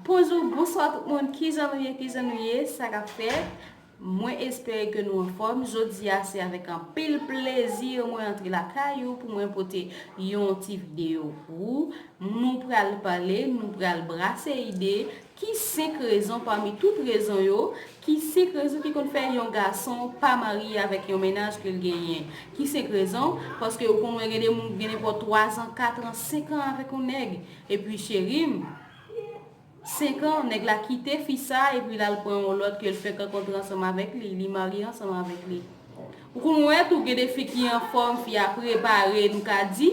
Bonjou bonswa tout moun kijan nou ye kijan nou ye sa kap fèt mwen espere ke nou anfòm jodi a se avèk anpil plezi mwen antre lakay ou pou mwen pote yon ti videyo pou ou nou pral pale nou pral brase ide ki 5 rezon pami tout rezon yo ki 5 rezon ki konn fè yon gason pa marye avèk yon mennaj ke l genyen ki 5 rezon paske ou konn wè gen de moun ki gen nenpò 3 zan 4 an 5 an avèk yon nèg Epi cherim. 5 ans nèg la kite fi sa epi lal pran yon lòt kel fenk rankontre ansanm avèk li, li marye ansanm avèk li. Ou konn wè tou gen de fi ki anfòm fi a prepare nou ka di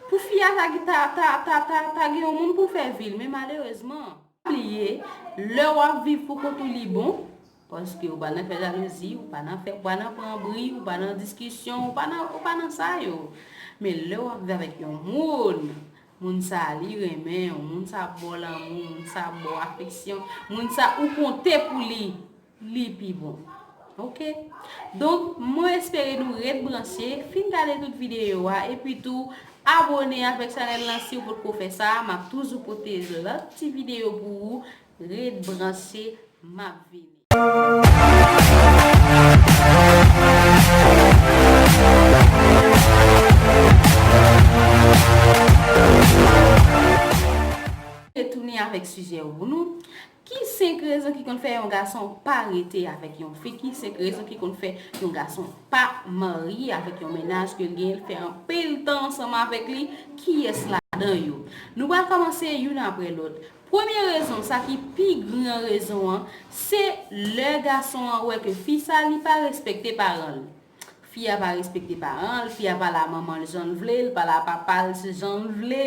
pou fi a ta ta ta ta ta ta gen yon moun poul fè vil men malerezman. Pa bliye, lè w ap viv pou kont ou li bon, paske ou pa nan fè jalouzi, ou pa nan fè, ou pa nan pran bri, ou pa nan diskisyon, ou pa nan, ou pa nan sa yo. Men lè w ap viv avèk yon moun, moun sa a li renmen w, moun sa a ap ba w lanmou, moun sa a ap ba w afeksyon, moun sa a ou konte pou li. Li pi bon. Ok. Donk, mwen espere nou ret branche, fin gade tout videyo a, epi tou, abone avèk chanèl lan si ou potko fè sa, m ap toujou pote lòt ti videyo pou ou, ret branche, m ap vini. Retounen avèk sijè ou pou nou. Ki 5 rezon ki konn fè yon gason pa rete avèk yon fi? Ki 5 rezon ki konn fè yon gason pa marye avèk yon mennaj ke l genyen, l fè anpil tan ansanm avèk li? Kiyès ladan yo? Nou pral kòmanse youn aprè lòt. Premye rezon, sa ki pi gran rezon an, se lè gason an wè ke fi sa li pa respekte paran l. Fi a pa respekte paran l, fi a pale a manman l jan l vle, l pale a papa l jan l vle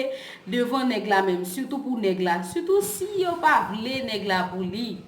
devan nèg la menm sitou pou nèg la, sitou si yo pa vle nèg la pou li.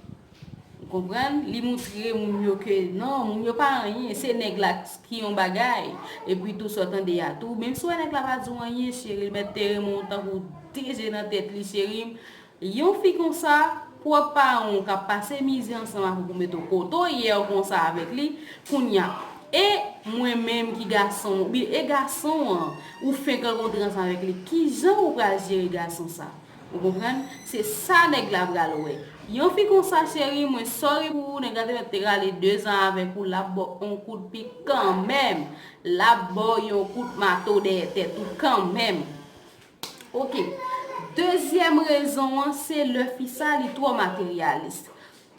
Ou konprann? Li moutre moun yo ke non, moun yo pa anyen, se nèg la ki yon bagay. Epi tou sa w tande a tou, menm si w wè nèg la pa di w anyen cheri l mèt te renmen w tankou de je nan tèt li cheri m, Yon fi konsa, pwòp paran w kap pase mizè ansanm avèk ou met ou kote w ye w konsa avèk li, kounya e mwen menm ki gason w oubyen e gason an ou fenk rankontre ansanm avèk li kijan ou pral jere gason sa? Ou konprann? Se sa nèg la pral wè. Yon fi konsa cheri mwen sorry pou ou nèg la te mèt te rale 2 zan avèk ou lap ba w on kout pik kanmenm, lap ba w yon kout mato dèyè tèt ou kanmenm. Ok. Dezyèm rezon an se lè fi sa li twò materyalis.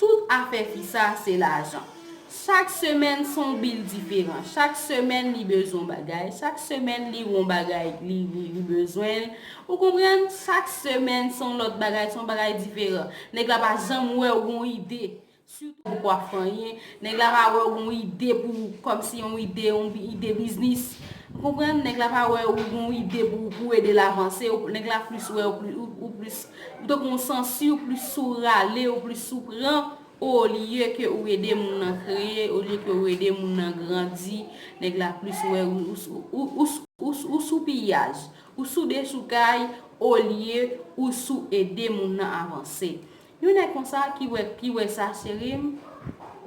Tout afè fi sa se lajan. Chak semèn se yon bil diferan. Chak semèn li bezwen yon bagay. Chak semèn li wè yon bagay li bezwen l. Ou konprann? Chak semèn se yon lòt bagay, se yon bagay diferan. Nèg la pa janm wè ou gen yon ide. Sitou ou pa fanyen, nèg la pa wè ou gon ide pou ou, kòmsi yon ide, yon ide biznis. Ou konprann? Nèg la pa wè ou gon ide pou ou, pou ou ede l avanse. Nèg la plis wè ou plis, ou tankou yon sansi, ou plis sou rale, ou plis sou pran, olye ke ou ede moun nan kreye, olye ke ou ede moun nan grandi. Nèg la plis wè ou sou piyaj, ou sou dechoukay, olye ou sou ede moun nan avanse. Yon nèg konsa ki wè ki wè sa cherim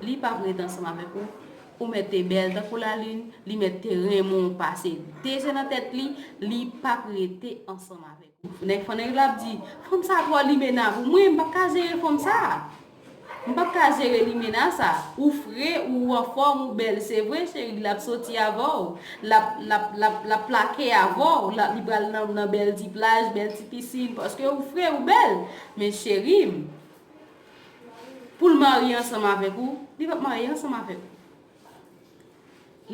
li pap ret ansanm avèk ou ou mèt te bèl tankou la lune li mèt te renmen w pase de je nan tèt li li pap rete ansanm avèk ou nèg fannèk yo lap di fanm sa twò limena pou mwen m pap ka jere fanm sa m pap ka jere limena sa ou fre ou anfòm ou bèl se vre cheri lap soti avèw lap lap lap lap plake avèw li pral nan bèl ti plaj bèl ti piscine paske ou fre ou bèl Men cherie m. Poul marye ansanm avek ou. Li pap marye ansanm avek ou.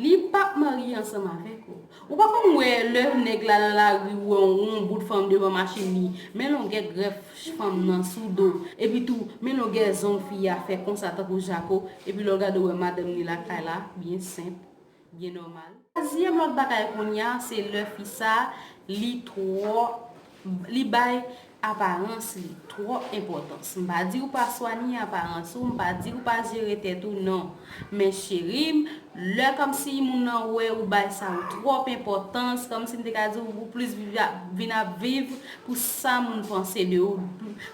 Li pap marye ansanm avek ou. Ou pa konn we le neg la nan lari ou we yon bout fanm devan machine li. Men longe gref fanm nan sou do. Epi tou men longe zong fi a fe konsa tankou jako. Epi le w gade ou we madanm li lakay la. Byen senp. byen nòmal. Twazyèm lòt bagay kounye a se lè fi sa li twò li bay aparans li twòp enpòtans m pa di ou pa swanye aparans ou m pa di ou pa jere tèt ou non men cheri m lè kòmsi moun nan wè ou bay sa yo twòp enpòtans kòmsi m te ka di ou plis vin ap viv pou sa moun panse de ou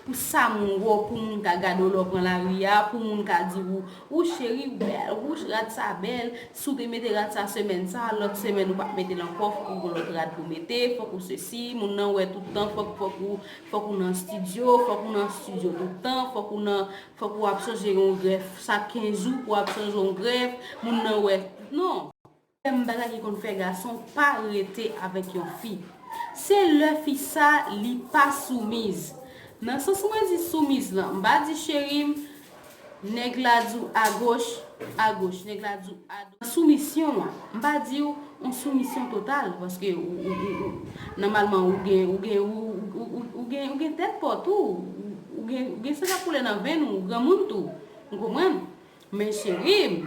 pou sa moun wè w pou moun ka gade w lè w pran lari a pou moun ka di ou Wouch cheri ou bèl wouch rad sa bèl si w te mete rad sa semèn sa lòt semèn ou pap mete l ankò fòk ou gon lòt rad pou mete fòk ou sesi moun nan wè tout tan fòk fòk ou fòk ou nan stidyo fòk ou nan stidyo tout tan fòk ou nan fòk ou ap chanje yon grèf chak 15 jou pou ap chanje yon grèf moun nan wè non. Menm bagay ki konn fè gason pa rete avèk yon fi. Se lè fi sa li pa soumiz. Nan sans mwen di soumiz lan, m pa di cheri m, nèg la di w agoch, agoch, nèg la di w adwat. Nan soumisyon an, m pa di w on soumisyon total paske ou nòmalman ou gen ou gen ou gen ou gen tèt pa w tou, ou gen san k ap koule nan venn ou, ou granmoun tou. Ou konprann? Men cheri m.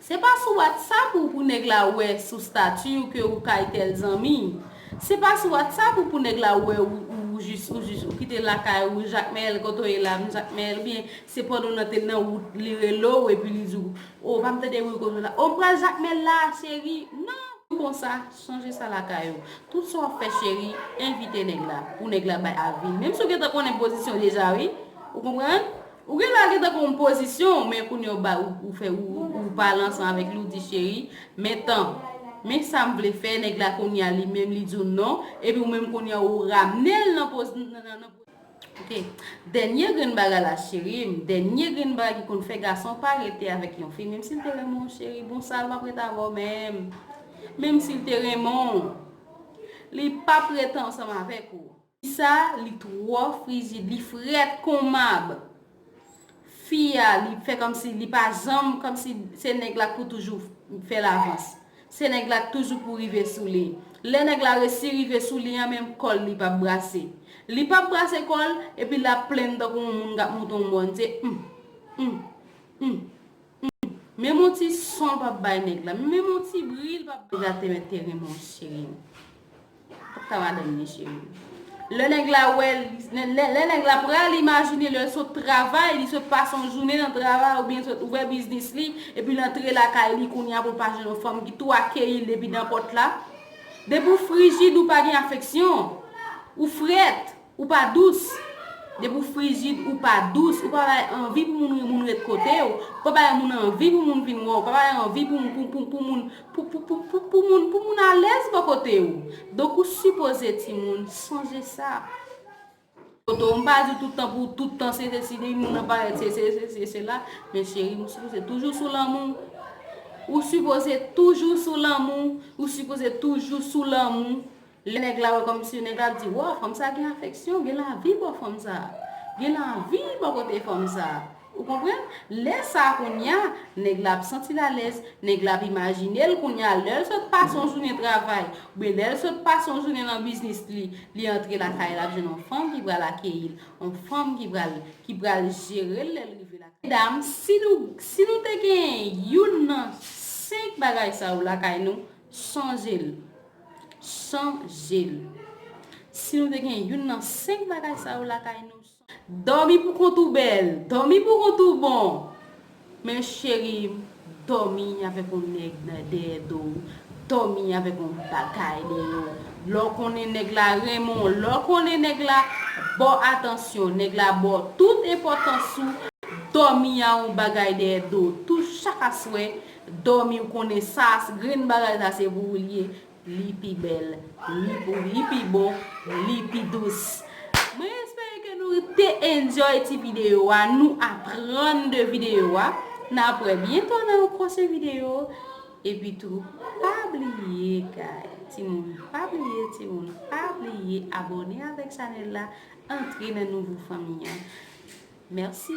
Se pa sou WhatsApp ou pou nèg la wè sou statut ou ke ou kay tèl zanmi. Se pa sou WhatsApp ou pou nèg la wè ou ou jis ou jis ou kite lakay ou Jacmel kote w ye la m Jacmel ou byen se pandan w nan te nan wout li rele w epi li di w oh pa m tande bri kote w la oh m pral Jacmel la cheri nan konsa sonje sa lakay ou tout sa w ap fè cheri envite nèg la pou nèg la bay avi menm si w gentan konnen pozisyon deja wi ou konprann Ou gen lage tankou yon pozisyon men kounye ou bay ou fè ou pa al ansan avèk li ou di cheri men tan men sam vle fè nèg la kounye a li menm li di w non epi ou menm kounye a ou ramne l nan pozisyon ok dènye grenn bagay la cheri m dènye grenn bagay ki konn fè gason pa rete avèk yon fi menm si l te renmen w cheri bon sa l pap rete avè w menm menm si l te renmen w li pap rete ansanm avèk ou. Sa li tro frizid li fret kon mab fi a li fè komsi li pa janm komsi se neg la k pou toujou fèl avans se neg la k toujou pou rive sou li lè neg la resi rive sou li an menm kol li pap brase li pap brase kol epi lap plenn tankou yon moun kap monte yon mòn se humm humm humm. Menm yon ti son pa bay nèg la menm yon ti bri li pa bay nèg la te mèt te renmen w cheri m Pap ka madanm li cheri m Lè nèg la wè lè nèg la pral imajine lè l sot travay li sot pase yon jounen nan travay oubyen li sot ouvè biznis li epi l antre lakay li kounya pou l pa jwenn yon fanm ki tou akeyi l depi dan pòt la Depi w frijid ou pa gen afeksyon ou frèt Ou pa dous! Depi ou frijid, ou pa dous, ou pa bay anvi pou moun moun ret kote w, ou pa bay moun anvi pou moun vin wè w, ou pa bay anvi pou moun pou moun alèz bò kote w. Donk ou sipoze timoun sonje sa. Kote w, m pa di tout tan pou tout tan se sesi, depi moun nan parèt se sesi, se sela, men cheri m ou sipoze toujou sou lanmou, ou sipoze toujou sou lanmou, ou sipoze toujou sou lanmou. Lè nèg la wè kòmsi nèg la ap di waw fanm sa gen afeksyon, gen lavi bò fanm sa. Gen lavi bò kote fanm sa. Ou konprann? Lè sa kounya nèg la ap santi l alèz, nèg la ap imajine l kounya lè l sot pase yon jounen travay oubyen lè l sot pase yon jounen nan biznis li, li antre lakay l ap jwenn yon fanm ki pral akeyi l, yon fanm ki pral ki pral jere l lè l rive lakay. Medam, si nou si nou te genyen youn nan 5 bagay sa yo lakay nou, chanje l. San jel. Si nou te gen youn nan 5 bagay sa yo lakay nou san. Dòmi pou kont ou bèl, dòmi pou kont ou bon. Men cherim, dòmi avèk on nèg nan dèyè do ou, dòmi avèk on bagay nan men w. Lè w konnen nèg la renmen w, lè w konnen nèg la ba w atansyon, nèg la ba w tout enpòtans ou, dòmi a on bagay dèyè do w tou chak aswè. Domi ou konnen sa grenn bagay sa se pou ou li ye li pi bèl li pou ou li pi bon li pi dous mwen espere ke nou te enjoy ti video a nou aprann de video a nap wè byento nan yon pwochen video epi tou pa bliye guy ti moun pa bliye ti moun pa bliye abone avèk chanèl la antre nan nouvo fanmi an mèsi.